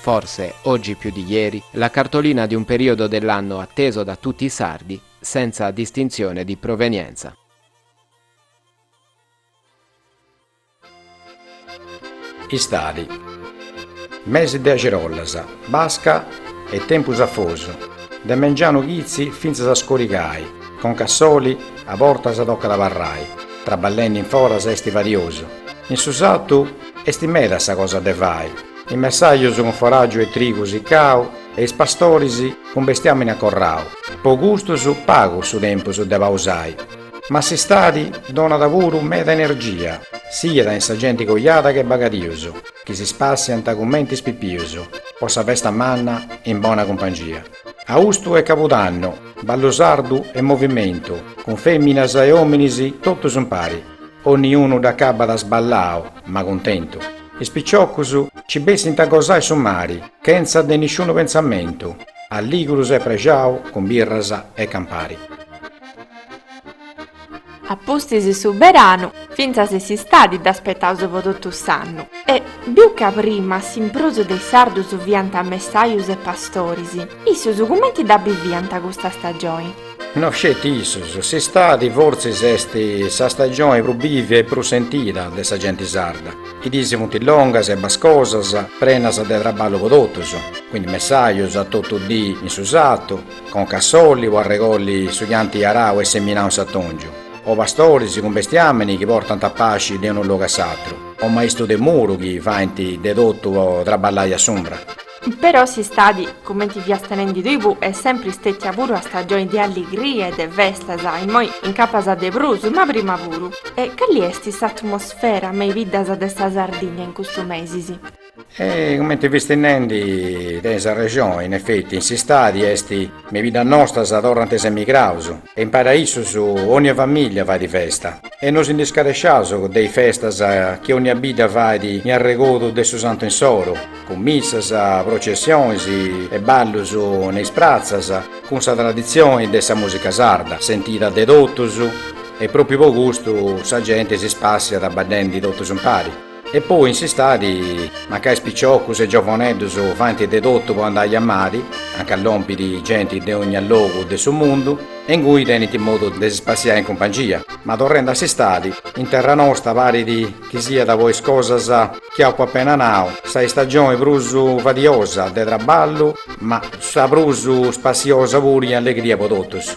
forse, oggi più di ieri, la cartolina di un periodo dell'anno atteso da tutti i sardi, senza distinzione di provenienza. Istadi. Mesi de argiolas, basca e tempus afosu, de mengianu chitzi fintzas a scurigai, conca a soli, a bortas tocat abarrai, traballendi in foras esti fadiosu, in su sartu esti meda sa cosa de fai, Is messajus cun foràgiu e trigu sicau e is pastoris cun bestiàmini acorrau. Po custus pagu su tempus de pausai, ma s'istadi donat puru meda energia, siat in sa genti cojada che bagadius, chi si spassiant cumenti is pipius po sa festa manna in bona cumpangia. Austu e cabudannu, ballu sardu e movimentu, cun feminas e ominis totus impari. Onni unu dd'acabat sballau, ma cuntentu. Is piciocus ci bessint a gosai su mari chentza de nisciunu pentzamentu, alligrus e prexaus cun birras e campari. A pustis su beranu, fintzas s'istadi dd'aspettaus po totu s'annu. E, biu ca prima s'imprus de is sardus fiant messaius e pastoris, issus cumenti dda biviant custa stagioni? No sceti issus, s'istadi fortzis est sa stagioni prus bivia e prus sentida de sa genti sarda. Is diis funt longas e bascosas, prenas de traballu po totus, quindi messajus a totu dii in su sartu, conca a soli po arregolli su chi ant arau e seminau in s'atongiu, o pastoris cun bestiamini chi portant a pasci de unu logu a s'atru, o maistu de muru chi faint de totu po traballai a s'umbra. Però s'istadi, cumenti fiast nendi tui, est sempri stètia puru sa stagioni de alligria e de festas, immoi incapas de prus, ma prima puru. E cali est s'atmosfera me is biddas de sa Sardigna in custus mesis? E cumenti fiast nendi, tenis arrexoni, in efeti, in s'istadi est, me is biddas nostras torrant is emigraus, E impari a issus ònnia famìllia fait festa. E no si ndi scaresciaus de is festas chi ònnia bidda fait in arregodu de su Santu insoru, cun missas, professionis e ballus in is pratzas, cun sa traditzioni de sa mùsica sarda, sentida de totus, e pròpriu po custu sa genti si spassiat baddendi totus impari. E poi in s'istadi, mancai is piciocus is giovoneddus faint de totu po andai a mari, anca lompit genti de ònnia logu de su mundu, e ingui tenint modu de si spassiai in cumpangia. Ma torrendi a s'istadi, in terra nosta parit chi siat po is cosas chi apu apena nau sa istagioni prus fadiosa, de traballu, ma sa prus spassiosa puru in allegria po totus.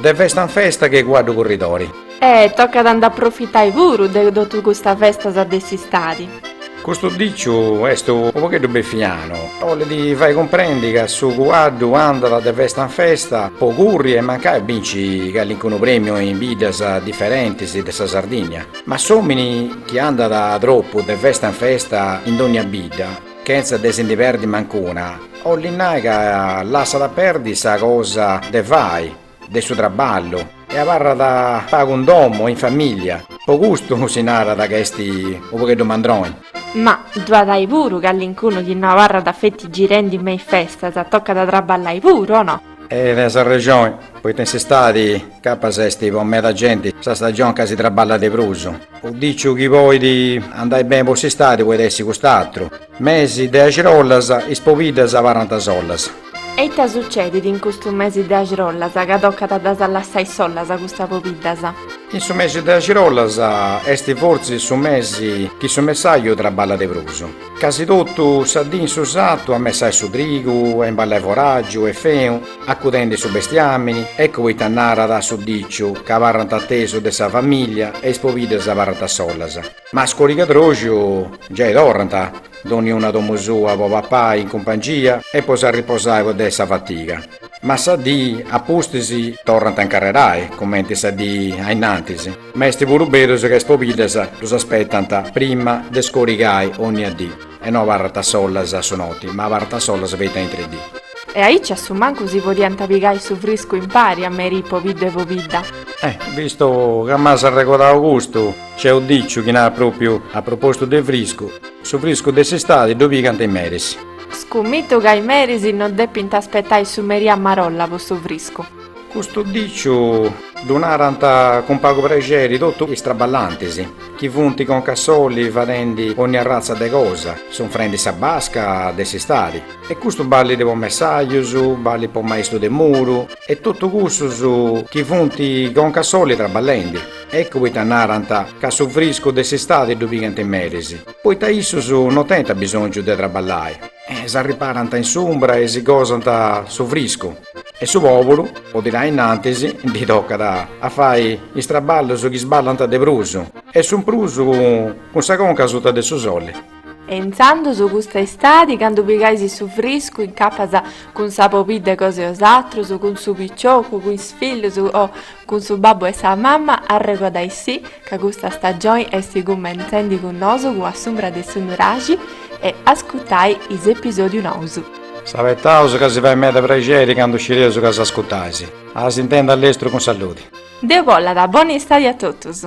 De festa in festa che cuaddu curridori. E tocat a nd'aprofitai puru de totu custas festas de s'istadi. Custu diciu est u pogheddu befianu. Bolit fai cumprendi ca su cuaddu andat de festa in festa po curri e mancai a binci calincunu premiu in biddas diferentis de sa Sardinnia. Ma s'omini chi andat tropu de festa in festa in dogna bidda. Chentza de si ndi perdi mancuna, 'olli nai ca lassat a perdi sa cosa de fai, de su traballu, e abarrat pagu in domu e in famìllia, po custu si narat ca est unu pogheddu mandroni. Ma ddu at ai puru callincunu chi no abarrat feti girendi me is festas, tocat a traballai puru, o no? E tenis arrexoni, poita in s'istadi capas est po meda genti sa stagioni ca si traballat de prus. U diciu chi poit andai beni po s'istadi poit essi cust'atru, mesi de axirollas, is pobiddas abarrant sollas. E ita sucedit in custu mesi de axirollas ca tocat a ddas lassai sollas custas pobiddas? In su mesi de axirollas est fortzis su mesi chi su messaju traballat de prus. Casi totu sa dì in su satu a messai su trigu e imballai forràgiu e fenu, acudendi su bestiàmini, eccu poita narat su diciu ca abarrant a tesu de sa famìllia e is pobiddas abarrant solas. Ma a scorigadroxiu giai torrant, dònniuna a domu sua po papai in cumpangia e po s'arriposai po de sa fatiga. Ma sa dì a pustis torrant a incarrerai, cumenti sa dì ainnantis. Ma est puru berus ca is pobiddas ddus aspetant prima de scorigai onnia dì, e no abarrant a solas a su noti, ma abarrant a solas feti a intri dì. E aici a su mancu si podiant pigai su friscu impari a merì pobiddu e pobidda. Eh, vistu ca m'as arregodau custu, nc'est u diciu chi narat pròpriu a propòsitu de friscu, su friscu de s'istadi ddu pigant is meris. Scummitu ca is meris no depint aspetai su merì a marolla po su friscu. Custu diciu ddu narant cun pagu prexeri totu is traballantis, chi funt conca a soli fadendi onni arratza de cosa, sunfrendi sa basca de s'istadi. E custu ballit po messajus, ballit po maistu de muru e totu cussus chi funt conca a soli traballendi. Eccu poita narant ca su friscu de s'istadi ddu pigant meris, poita issus no tenint abisongiu de traballai e s'arriparant in s'umbra e si gosant su friscu. E su pòpulu, po tirai innantis, ndi tocat a fai is traballus chi sballant de prus, e sunt prus cun sa conca suta de su sole. E intzandus custa istadi, candu pigais su friscu in capas cun sa pobidda cosa 'e 'osatrus, cun su piciocu, cun is fillus o Cun su babbu e sa mamma arregodai sì ca custa stagioni esti cummentzendi cun nosu cun A s'umbra de su nuraxi e ascutai is episodius nousu. S'abetaus ca si fait meda praxeri candu scireus ca s'ascutais. A s'intendi a lestru cun saludi. Deus bollat bona istadi a totus.